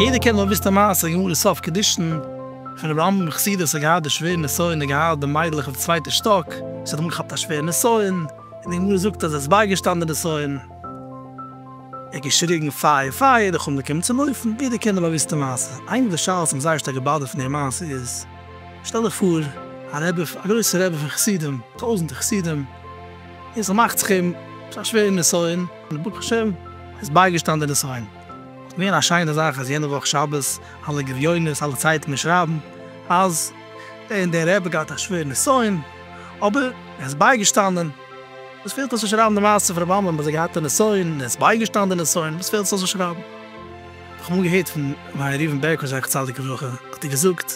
יעדער קען דאך וויסן די מעשה גמור אין סוף קידושין פון רבי עמרם מחסידות האט געהאט די שווער נסיון און געהיילט די מיידלעך אויף צווייטע שטאק זי האט אנגעכאפט א שווער נסיון און די גמרא זאגט אז עס בייגעשטאן די נסיון. ער האט געשריגן פייער פייער, די חמר קומען צו לויפן, ביטע קענט דעם באוויסטע מעשה. איינע פון די שאלות וואס מיר זייער שטארק געבאדערט פון דער מעשה איז, שטעל דיך פאר, א רבי, א גרויסער רבי פון חסידים, טויזענטער חסידים, און ס'מאכט זיך אים א שווערע נסיון, און ברוך השם ער איז בייגעשטאן די נסיון, וואלט געווען א שיינע זאך אז יענע וואך שבת, אלע גליונות, אלע צייטונגען שרייבן אז דער און דער רבי האט געהאט א שווערע נסיון, אבער ער איז בייגעשטאנען. וואס פעלט אויס צו שרייבן די מעשה פון רבי עמרם ביי זיי געהאט א נסיון און עס בייגעשטאנען די נסיון, וואס פעלט עס אויס צו שרייבן? איך האב אמאל געהערט פון ר' ראובן בערקאוויטש זכר צדיק לברכה האט ער געזאגט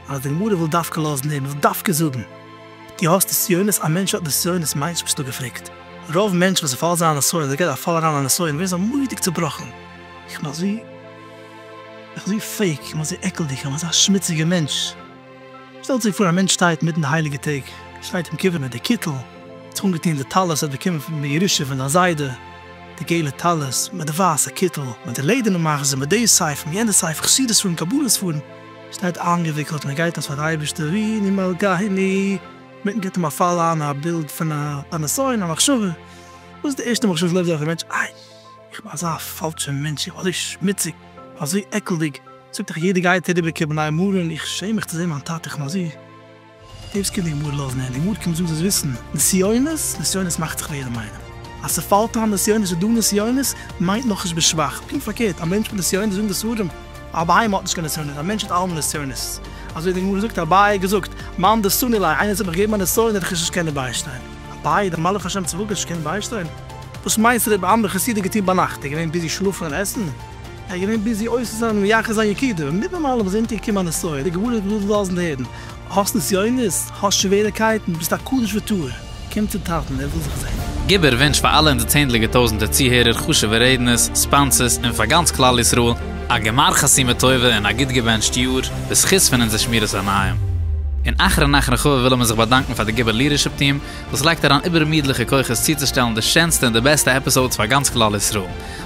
אז די גמרא וויל דווקא לאזן הערן, וויל דווקא זאגן דו האסט נסיונות, א מענטש האט נסיונות מיינט נישט וואס דא געפרעגט, רוב מענטשן וואס ס'פאלט זיי א נסיון אדער געבט א פאל אריין א נסיון ווערן זיי מורא'דיג צובראכן, איך בין אזוי איך בין אזוי פעיק, איך בין אזוי עקלדיג, איך בין אזא שמוציגער מענטש. שטעלט זיך פאר א מענטש שטייט מיטן די הייליגע טעג, שטייט אים קובע מיט די קיטל, האט זיך אנגעטון די טלית ער האט באקומען פון די ירושה פון זיין זיידע, די געלע טלית, מיט די ווייסע קיטל, מיט די לעדערנע מחזור, מיט די ספר, מיט יענע ספר, חסידות ספרים, קבלה ספרים, שטייט איינגעוויקלט און ער גייט אז פאר די אייבערשטער הריני מלכהיני, מיטן גיבט אים א פאל איין א בילד פון א נסיון א מחשבה, וואס איז די ערשטע מחשבה וואס לויפט דורך די מענטש, איי איך בין אזא פאלשע מענטש, איך בין אזוי שמוציג, אזוי עקלדיג. זאגט איך יעדער גייט אריבער קעבן נייע מרן איך שעם מיך צו זען מיין טאטע איך מיין זי דעיס קען די גמרא לאזן הערן די גמרא קומט זאגן זאלסט וויסן נסיונות נסיונות מאכט זיך ווער מיינען אז ס'פאלט איין נסיונות איז דא נסיונות מיינט נאך נישט ביסט שוואך פונקט פארקערט א מענטש מיט נסיונות זאגן די ספרים א בהמה האט נישט קיין נסיונות א מענטש האט אלעמאל נסיונות אזוי די גמרא זאגט אביי האט געזאגט מאן דעשני ליה איינער זאל מיך געבן א נסיון וועל איך עס נישט קענען ביישטיין אביי דער מלאך השם צבאות וועט נישט קענען ביישטיין וואס מיינסטו רבי עמרם חסיד האט געטון ביינאכט איז ער געווען ביזי שלאפן און עסן? ער איז געווען ביזי אויסצוזאגן מייחס זיין יקידה, מיט דעם אלעם איז אונטערגעקומען א נסיון, די גמרא האט געוואלט לאזן הערן, האסט נסיונות? האסט שוועריקייטן? ביסט א קדוש וטהור? קום צום טאטן, ער וויל דיך זען. גיב ער וואונטש פאר אלע אונזער צענדליגע טויזנטער צוהערער, חשובע רעדנערס, ספאנסערס, און פאר גאנץ כלל ישראל, א גמר חתימה טובה און א גוט געבענטשט יאר, בזכות פון אונזער שמירת עיניים. און אחרון נאך רחבה ווילן מיר זיך באדאנקן פאר די גיבער לידערשיפ טיעם, וואס לייגט אריין איבערמידליכע כוחות צוצושטעלן די שענסטע און די בעסטע עפיסאודס פאר גאנץ כלל ישראל.